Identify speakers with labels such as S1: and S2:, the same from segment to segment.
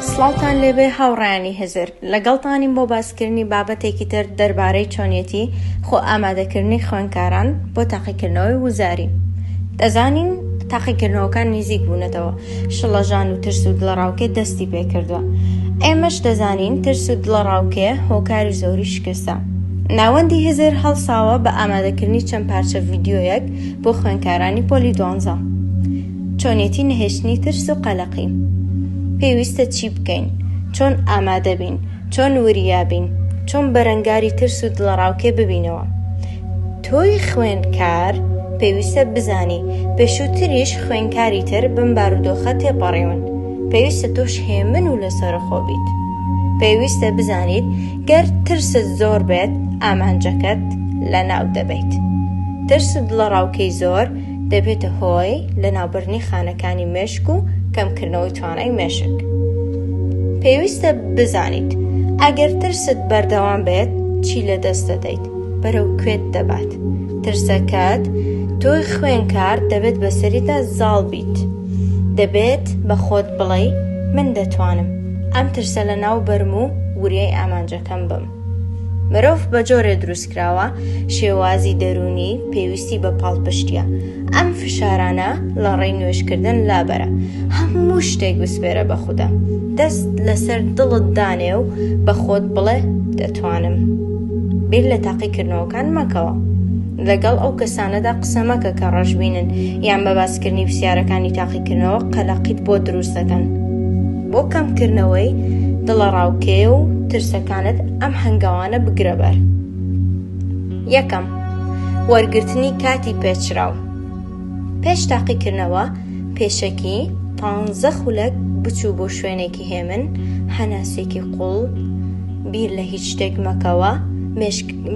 S1: سڵاوتان لێبێ هاوڕیانی هزر لەگەڵتانیم بۆ باسکردنی بابەتێکی تر دەربارەی چۆنیەتی خۆ ئامادەکردنی خوێنکاران بۆ تاقیکردنەوەی وزاری دەزانین تاقیکردنەوەکان نزیک بوونەتەوە شڵەژان و ترس و دڵەڕاوکێ دەستی پێکردووە ئێمەش دەزانین ترس و دڵەڕاوکێ هۆکاری زۆری شکستە ناوەندی هزر هەڵساوە بە ئامادەکردنی چەند پارچە ڤیددیویەک بۆ خوێندکارانی پۆلی دوانزە. چۆنێتی نەهێشتنی ترس و قەلەقی. پێویستە چی بکەین؟ چۆن ئامادە بین؟ چۆن وریا بین؟ چۆن بەرەنگاری ترس و دڵەڕاوکێ ببینەوە؟ تۆی خوێندکار پێویستە بزانی پێشووتریش خوێندکاری تر بەم بارودۆخە تێپەڕیون. پێویستە تۆش هێمن و لەسەرەخۆ بیت. پێویستە بزانیت گەر ترست زۆر بێت ئامانجەکەت لەناو دەبەیت. ترس و دڵەڕاوکێی زۆر دەبێتە هۆی لەناوبردنی خانەکانی مێشک و کەمکردنەوەی توانای مێشک. پێویستە بزانیت ئەگەر ترست بەردەوام بێت چی لەدەست دەدەیت، بەرەو کوێت دەبات. ترسەکەت تۆی خوێنکار دەبێت بەسەریدا زاڵ بیت. دەبێت بە خۆت بڵێی من دەتوانم. ئەم ترسە لە ناو بەرم و وریای ئامانجەکەم بم. مرۆڤ بە جۆرێ دروست کراوە شێوازی دەروونی پێویستی بە پاڵپشتیە ئەم فشارانە لە ڕێی نوێشکردن لابەرە هەموو شتێک بسپێرە بە خوددا دەست لەسەر دڵت دانێ و بە خۆت بڵێ دەتوانم بیر لە تاقیکردنەوەکان مەکەوە لەگەڵ ئەو کەسانەدا قسە مەکە کە ڕەشبینن یان بە باسکردنی پرسیارەکانی تاقی کردنەوە قەلەقیت بۆ دروست دەکەن بۆ کەمکردنەوەی دڵەڕاوکێ و ترسەکانت ئەم هەنگاوانە بگرە بەر یەکەم وەرگرتنی کاتی پێچراو پێش تاقیکردنەوە پێشەکی پانزە خولەک بچوو بۆ شوێنێکی هێمن هەناسێکی قوڵ بیر لە هیچ شتێک مەکەوە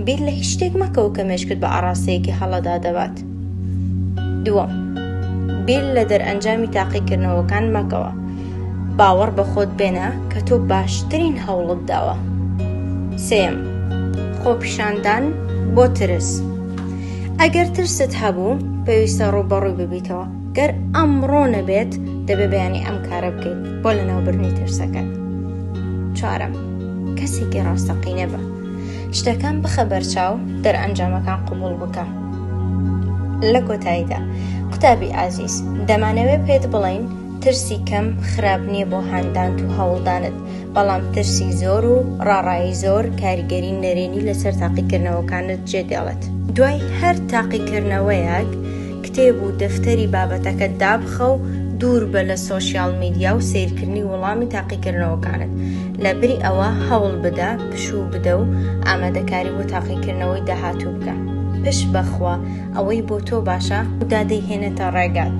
S1: بیر لە هیچ شتێک مەکەوە کە مێشکت بە ئاراستەیەکی هەڵەدا دەبات دووەم، بیر لە دەرئەنجامی تاقیکردنەوەکان مەکەوە، باوەڕ بە خۆت بێنە کە تۆ باشترین هەوڵت داوە. سێیەم، خۆپیشاندان بۆ ترس. ئەگەر ترست هەبوو، پێویستە ڕووبەڕووی ببیتەوە، گەر ئەمڕۆ نەبێت، دەبێ بەیانی ئەم کارە بکەیت بۆ لەناوبردنی ترسەکەت. چوارەم، کەسێکی ڕاستەقینە بە. شتەکان بخە بەرچاو دەرئەنجامەکان قبوڵ بکە لە کۆتاییدا قوتابی ئازیز دەمانەوێ پێت بڵین ترسی کەم خراپ نییە بۆ هاندانت و هەوڵدانت بەڵام ترسی زۆر و ڕاڕایی زۆر کاریگەری نەرێنی لەسەر تاقیکردنەوەکانت جێ دێڵێت دوای هەر تاقیکردنەوەیەک کتێب و دەفتەری بابەتەکەت دابخە و دووربە لە سۆشیاڵ میدیا و سەیرکردنی وەڵامی تاقیکردنەوەکانت. لەبری ئەوە هەوڵ بدە پشوو بدە و ئامادەکاری بۆ تاقیکردنەوەی داهاتوو بکە. پشت بە خوا، ئەوەی بۆ تۆ باشە، خودا دەیهێنێتە ڕێگات.